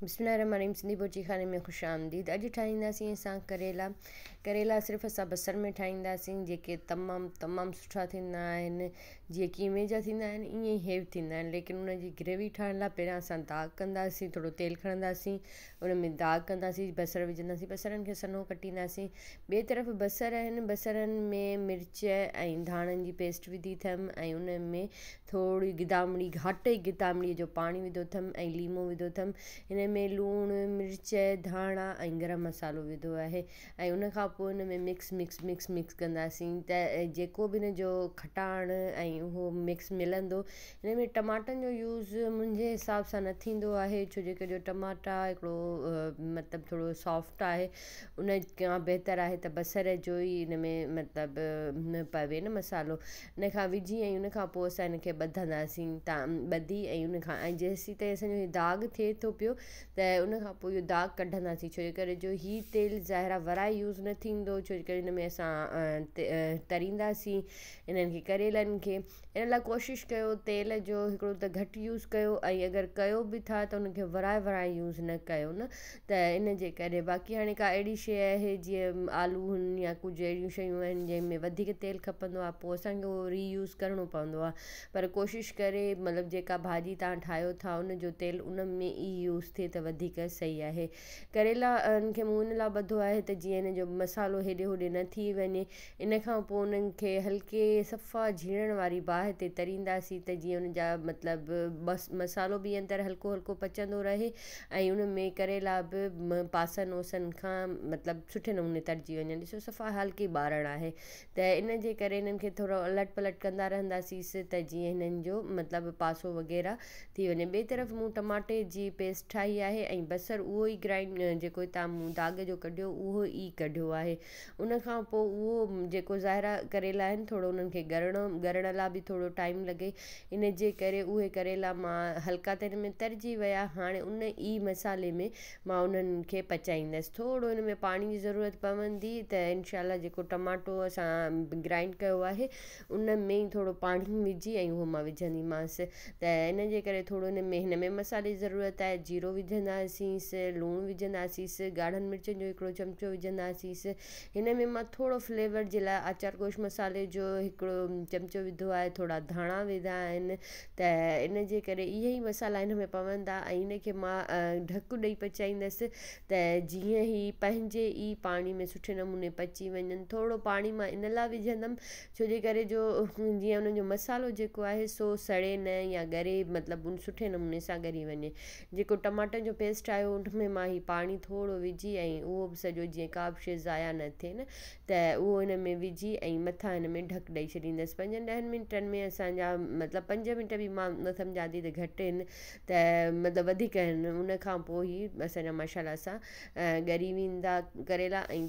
بسم الله الرحمٰن الرحيم سنڌي بورچي خاني ۾ خوش آمديد اڄ ٺاهينداسين اسان ڪريلا ڪريلا صرف اسان بصر ۾ ٺاهينداسين جيڪي تمام تمام سٺا ٿيندا آهن جيئن قيمي جا ٿيندا آهن ائين ئي هي به ٿيندا آهن ليڪن ان جي گريوي ٺاهڻ لاء پهريان اسان داغ ڪنداسين ٿورو تيل کڻنداسين ان ۾ داغ ڪنداسين بصر وجهنداسين بصرن کي سنهو ڪٽينداسين ٻئي طرف بصر اهن بصرن ۾ مرچ ۽ ڌاڻن جي پيسٽ وڌي ٿم ۽ ان ۾ ٿورڙي گدامڙي گهاٽي گدامڙي جو پاڻي وڌو ٿم ۽ ليمو وڌو ٿم ان ۾ لوڻ مرچ ڌاڻا ۽ گرم مصالحو وڌو آهي ۽ ان کان پوء ان ۾ مڪس مڪس مڪس مڪس ڪنداسين ته جيڪو به ان جو کٽاڻ ۽ اهو مڪس ملندو ان ۾ ٽماٽن جو يوز منهنجي حساب سان نه ٿيندو آهي ڇو جو ڪجو ٽماٽا هڪڙو مطلب ٿورڙو سافٽ آهي ان کان بهتر آهي ته بصر جو ئي ان ۾ مطلب پوي نه مصالحو ان کان وجهي ۽ ان کان پوء اسان ان کي ٻڌنداسين ته ٻڌي ۽ ان کان ۽ جيسين تائين اسان جو هي داغ ٿئي ٿو پيو ته ان کان پوء اهو داغ ڪڍنداسين ڇو جي ڪري جو هي تيل ظاهرا ورائي يوز نه ٿيندو ڇو جي ڪري ان ۾ اسان ترينداسين انهن کي ڪريلن کي ان لاء ڪوشش ڪيو تيل جو هڪڙو ته گهٽ يوز ڪيو ۽ اگر ڪيو به ٿا ته ان کي ورائي ورائي يوز نه ڪيو نه ته ان جي ڪري باقي هاڻي ڪا اهڙي شيء آهي جيئن آلو هن يا ڪجهه اهڙيون شيون آهن جنهن ۾ وڌيڪ تيل کپندو آهي پوء اسان کي اهو ري يوز ڪرڻو پوندو آهي پر ڪوشش ڪري مطلب جيڪا ڀاڄي تان ٺاهيو ٿا ان جو تيل ان ۾ ئي يوز ٿئي ته وڌيڪ صحيح آهي ڪريلا ان کي مون ان لاء ٻڌو آهي ته جيئن ان جو مصالحو هيڏي هوڏي نه ٿي وڃي ان کان پوء انهن کي هلڪي صفا جهيڙڻ واري باهه تي ترينداسين ته جيئن ان جا مطلب مصالحو به اندر هلڪو هلڪو پچندو رهي ۽ ان ۾ ڪريلا به پاسن اوسن کان مطلب سٺي نموني ترجي وڃن ڏسو صفا هلڪي ٻارڻ آهي ته ان جي ڪري انهن کي ٿورو الٽ پلٽ ڪندا رهنداسيس ته جيئن هنن جو مطلب پاسو وغيره ٿي وڃي ٻئي طرف مون ٽماٽي جي پيسٽ ٺاهي آهي ۽ بصر اهو ئي گرائنڊ جيڪو هتان مون داغ جو ڪڍيو اهو ئي ڪڍيو آهي ان کان پوء اهو جيڪو ظاهرا ڪريلا آهن ٿورو انهن کي ڳرڻو ڳرڻ لا به ٿورو ٽائيم لڳي ان جي ڪري اهي ڪريلا مان هلڪا تري ۾ ترجي ويا هاڻي ان ئي مصالحي ۾ مان انهن کي پچائيندس ٿورو ان ۾ پاڻي جي ضرورت پوندي ته انشاء الله جيڪو ٽماٽو اسان گرائينڊ ڪيو آهي ان ۾ ئي ٿورو پاڻي وجهي ۽ اهو مان وجهندي مانس ته ان جي ڪري ٿورو ان ۾ هن ۾ مصالحي ضرورت آهي جيرو وجهنداسينس لوڻ وجهنداسينس ڳاڙهن مرچن جو هڪڙو چمچو وجهنداسينس هن ۾ مان ٿورو فليور جي لاء آچار گوش مصالحي جو هڪڙو چمچو وڌو آهي ٿورا ڌاڻا وڌا آهن ته ان جي ڪري اهي ئي مصالحا هن ۾ پوندا ۽ ان کي مان ڍڪ ڏئي پچائيندس ته جيئن هي پنهنجي ئي پاڻي ۾ سٺي نموني پچي وڃن ٿورڙو پاڻي مان ان لاء وجهندم ڇو جي ڪري جو جيئن انهن جو مصالحو جيڪو آهي سو سڙي نه يا ڳري مطلب سٺي نموني سان ڳري وڃي جيڪو ٽماٽن جو پيسٽ آهي ان ۾ مان هي پاڻي ٿورو وجهي ۽ اهو به سڄو جيئن ڪا به شي ضايع نه ٿئي نه ته اهو ان ۾ وجهي ۽ مٿان ان ۾ ڍڪ ڏئي ڇڏيندس پنجن ڏهن منٽن ۾ اسان جا مطلب پنج منٽ به مان نه سمجهان ٿي ته گهٽ آهن ته مطلب وڌيڪ آهن ان کان پوء هي اسان جا ماشاء الله سان ڳري ويندا ڪريلا ۽